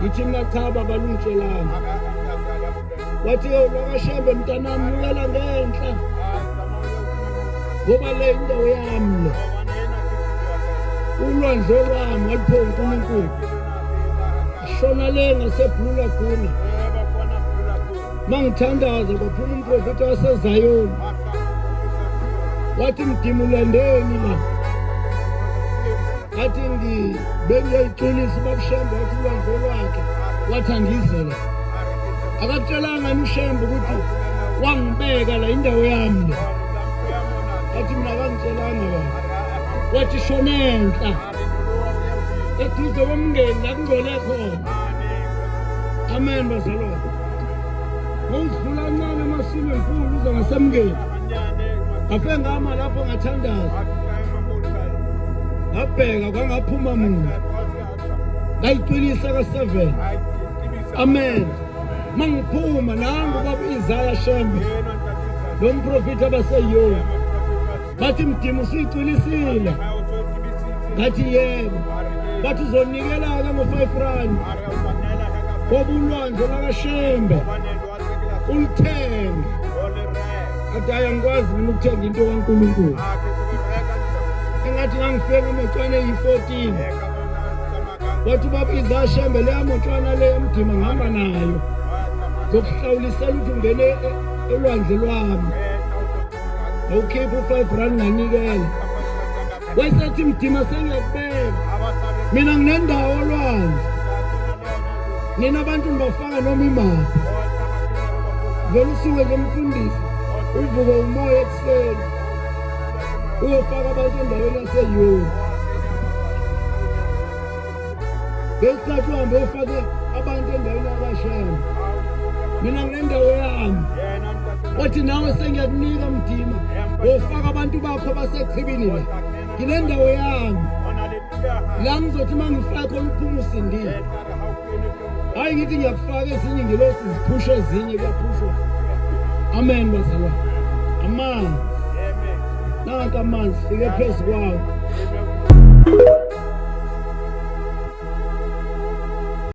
ngithi mina cha baba lungitshelanga wathi yo lokashembe mntanami nyukela ngenhla ngoba le indawo yami le ulwandle lwami waliphe unkulunkulu shona le ngaseblula gula ma ngithandaza kwaphuma umprofethi wasezayoni wathi mdimulendeni la athi bengiyoyixolisa ubabshembe wathi ulwandle lwakhe wathi angizela akakutshelanga yini ushembe ukuthi wangibeka la indawo yami le athi mina akangitshelanga ba wathi shonenhla eduze komngeni la kungcole khona amen bazalwane ngokudlula ncane amasimo enkulu uze ngasemngeni ngafe ngama lapho ngathandaza ngabheka kwangaphuma mina ngayiqinisa ka-seven amen ma ngiphuma nangu baba izaya shembe lo mprofethi abaseyona bathi mdimu siyiqinisile ngathi yebo bathi uzonikelaka ngo-five rand kobulwandle lakashembe ulithenge adaya ngikwazi mina ukuthenga into kaNkulunkulu engathi ngangifike ngamotshwane eyi-14 wathi ubaba izashembe leya motshwana leyo mdima ngihamba nayo zokuhlawulisela ukuthi ungene e, olwandle lwami ngawukhipha u-five rand nganikela wayesethi mdima sengiyakubeka mina nginendawo olwandle nina abantu nibafaka noma imali vele usuke nje mfundisi uvuke umoya ekuseni uyofaka abantu endaweni yaseyurophu ngesikhathi uhambe ufake abantu endaweni yakashema mina nginendawo yami othi nawe sengiyakunika mdima wofaka abantu bakho basechibini la nginendawo yami la ngizothi uma ngifakho luphume usindile hayi ngithi ngiyakufaka ezinye ingelosi ziphusha ezinye kuyaphushwa amen bazalwa amanzi nanka amanzi fike phezu kwawo